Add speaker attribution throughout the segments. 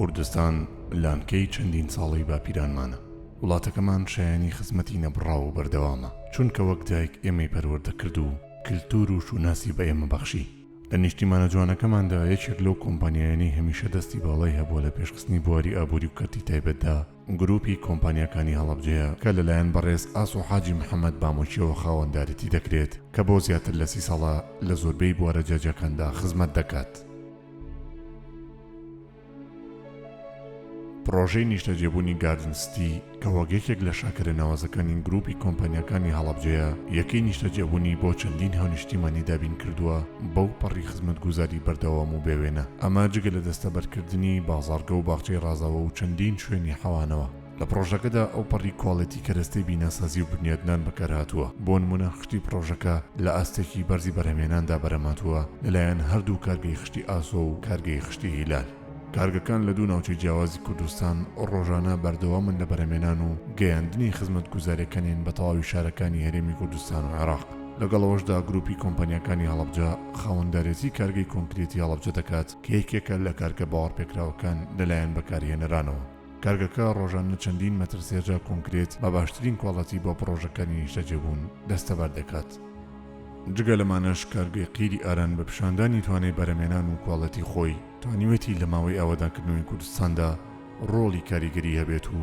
Speaker 1: کوردستان لانکەی چەندین ساڵەی باپیرانمانە وڵاتەکەمان شایانی خزمەتی نەبڕاو و بەردەوامە چونکە وەک دایک ئێمەی پەروەردە کرد و کللتور و شوناسی بە ئێمە بەخشی لە نیشتیمانە جوانەکەماندا یەکێک لەو کۆمپانیایانی هەمیشە دەستی باڵای هەبووە لە پێشخستنی بواری ئابووری و کەرتی تایبەتدا گروپی کۆمپانیاکانی هەڵەبجەیە کە لەلایەن بەڕێز ئاسۆ حاجی محەمەد بامۆکیەوە خاوەندارێتی دەکرێت کە بۆ زیاتر لە سی ساڵە لە زۆربەی بوارە جیاجیاکاندا خزمەت دەکات. پڕۆژەی نیشتەجێبوونی گاردن ستی کە وەک یەکێک لە شاکارە ناوازەکانی گروپی کۆمپانیاکانی هەڵەبجەیە یەکەی نیشتەجێبوونی بۆ چەندین هاونیشتیمانی دابین کردووە بەو پەڕی خزمەتگوزاری بەردەوام و بێوێنە، ئەمە جگە لە دەستەبەرکردنی بازاڕگە و باخچەی ڕازاوە و چەندین شوێنی حەوانەوە. لە پڕۆژەکەدا ئەوپەڕی کواڵێتی کەرەستەی بیناسازی و بنیادنان بەکارهاتووە، بۆ نموونە خشتی پڕۆژەکە لە ئاستێکی بەرزی بەرهەمهێناندا بەرهەمهاتووە لەلایەن هەردوو کارگەی خشتی ئاسۆ و کارگەی خشتی هیلال. کارگەکان لە دوو ناوچەی جیاوازی کوردستان ڕۆژانە بەردەوامن لە بەرهەمێنان و گەیاندنی خزمەتگوزاریەکانیان بە تەواوی شارەکانی هەرێمی کوردستان و عێراق، لەگەڵ ئەوەشدا گروپی کۆمپانیاکانی هەڵەبجە خاوەندارێتی کارگەی کۆنکرێتی هەڵەبجە دەکات کە یەکێکە لە کارگە باوەڕپێکراوەکان لەلایەن بەکارهێنەرانەوە. کارگەکە ڕۆژانە چەندین مەتر سێجا کۆنکرێت بە باشترین کواڵەتی بۆ پڕۆژەکانی نیشتەجێبوون دەستەبەر دەکات. جگە لەمانەش کارگەی قیری ئاران بە پیشاندانی توانای بەرهەمێنان و کواڵێتی خۆی توانیوێتی لە ماوەی ئاوەدانکردنەوەی کوردستاندا ڕۆڵی کاریگەری هەبێت و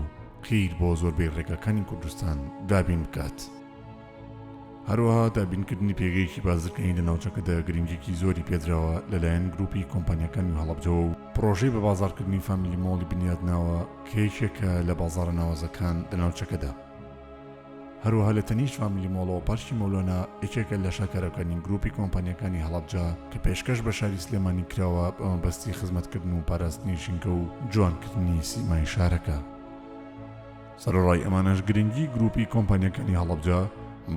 Speaker 1: قیر بۆ زۆربەی ڕێگاکانی کوردستان دابین بکات. هەروەها دابینکردنی پێگەیەکی بازرگانی لە ناوچەکەدا گرنگیکی زۆری پێدراوە لەلایەن گروپی کۆمپانیاکانی هەڵەبجەوە و پڕۆژەی بە بازاڕکردنی فامیلی مۆڵی بنیادناوە کە یەکێکە لە بازاڕە ناوازەکان لە ناوچەکەدا. هەروەها لە تەنیشت فامیلی مۆڵەوە پارکی مەولۆنا یەکێکە لە شاکارەکانی گروپی کۆمپانیەکانی هەڵەبجە کە پێشکەش بە شاری سلێمانی کراوە بە مەبەستی خزمەتکردن و پاراستنی ژینگە و جوانکردنی سیمای شارەکە. سەرەڕای ئەمانەش گرنگی گروپی کۆمپانیەکانی هەڵەبجە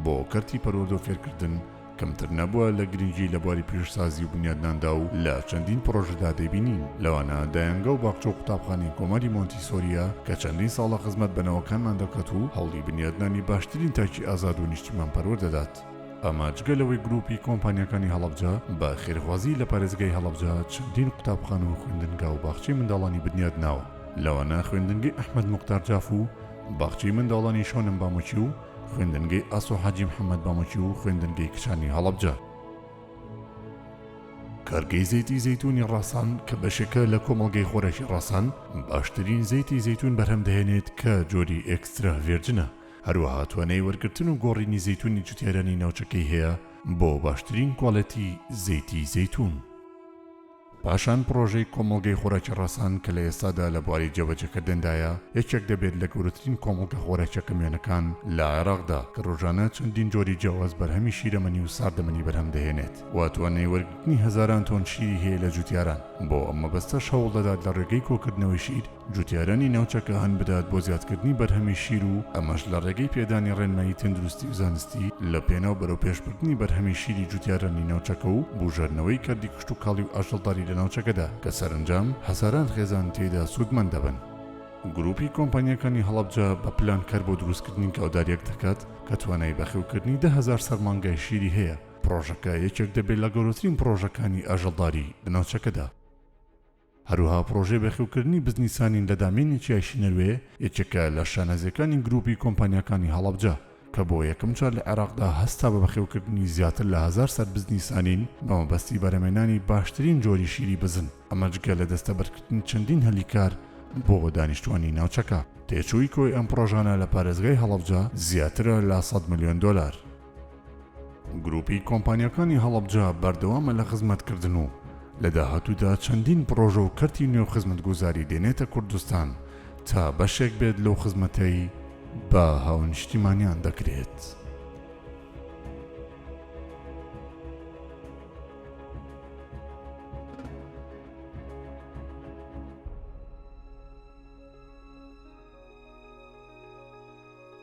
Speaker 1: بۆ کەرتی پەروەردە و فێرکردن کەمتر نەبووە لە گرنگی لە بواری پیشەسازی و بنیادناندا و لە چەندین پڕۆژەدا دەیبینین لەوانە دایەنگە و باخچە و قوتابخانەی کۆماری مۆنتیسۆریە کە چەندین ساڵە خزمەت بە نەوەکانمان دەکات و هەوڵی بنیادنانی باشترین تاکی ئازاد و نیشتیمان پەروەر دەدات. ئەمە جگە لەوەی گرووپی کۆمپانیاکانی هەڵەبجە بە خێرخوازی لە پارێزگای هەڵەبجە چەندین قوتابخانە و خوێندنگا و باخچەی منداڵانی بنیادناوە لەوانە خوێندنگەی ئەحمەد موختار جاف و باخچەی منداڵانی شۆنم بامۆکی و خوێندنگەی ئاسۆ حاجی محەممەد بەمەکی و خوێندنگەی کچانی هەڵەبجە. کارگەی زەیتی زەیتونی ڕاسان کە بەشێکە لە کۆمەڵگەی خۆراکی ڕاسان باشترین زەیتی زەیتون بەرهەم دەهێنێت کە جۆری ئێکسترا ڤێرجنە هەروەها توانای وەرگرتن و گۆڕینی زەیتونی جوتیارانی ناوچەکەی هەیە بۆ باشترین کوالێتی زەیتی زەیتون. پاشان پڕۆژەی کۆمەڵگەی خۆراکی ڕەسەن کە لە ئێستادا لە بواری جێبەجێکردندایە، یەکێک دەبێت لە گەورەترین کۆمەڵگە خۆراکیە کەموێنەکان لە عێراقدا کە ڕۆژانە چەندین جۆری جیاواز بەرهەمی شیرەمەنی و ساردەمەنی بەرهەم دەهێنێت و توانای وەرگرتنی هەزاران تۆن شیری هەیە لە جوتیاران، بۆ ئەم مەبەستەش هەوڵدەدات لە ڕێگەی کۆکردنەوەی شیر، جوتیارانی ناوچەکە هان بدات بۆ زیادکردنی بەرهەمی شیر و ئەمەش لە ڕێگەی پێدانی ڕێنمایی تەندروستی و زانستی لە پێناو بەرەوپێشبردنی بەرهەمی شیری جوتیارانی ناوچەکە و بوژاردنەوەی کەرتی کشتوکاڵی و ئاژەڵداری لە ناوچەکەدا کە سەرەنجام هەزاران خێزان تێیدا سوودمەند دەبن. گروپی کۆمپانیاکانی هەڵەبجە بە پلان کار بۆ دروستکردنی گاوداریەک دەکات کە توانای بەخێوکردنی دە هەزار سەر مانگای شیری هەیە، پڕۆژەکە یەکێک دەبێت لە گەورەترین پڕۆژەکانی ئاژەڵداری لە ناوچەکەدا. هەروەها پڕۆژەی بەخێوکردنی بزنیسانین لە دامێنی چیای شنەوێ یەکێکە لە شانازییەکانی گرووپی کۆمپانیاکانی هەڵەبجە کە بۆ یەکەم جار لە عێراقدا هەستا بە بەخێوکردنی زیاتر لە هەزار سەد بزنیسانین بە مەبەستی بەرهەمێنانی باشترین جۆری شیری بزن ئەمە جگە لە دەستەبەرکردنی چەندین هەلی کار بۆ دانیشتوانی ناوچەکە. تێچووی کۆی ئەم پڕۆژانە لە پارێزگای هەڵەبجە زیاترە لە سەد ملیۆن دۆلار. گروپی کۆمپانیاکانی هەڵەبجە بەردەوامە لە خزمەتکردن و لە داهاتوودا چەندین پڕۆژە و کەرتی نوێ و خزمەتگوزاری دێنێتە کوردستان تا بەشێک بێت لەو خزمەتەی بە هاونیشتیمانیان دەکرێت.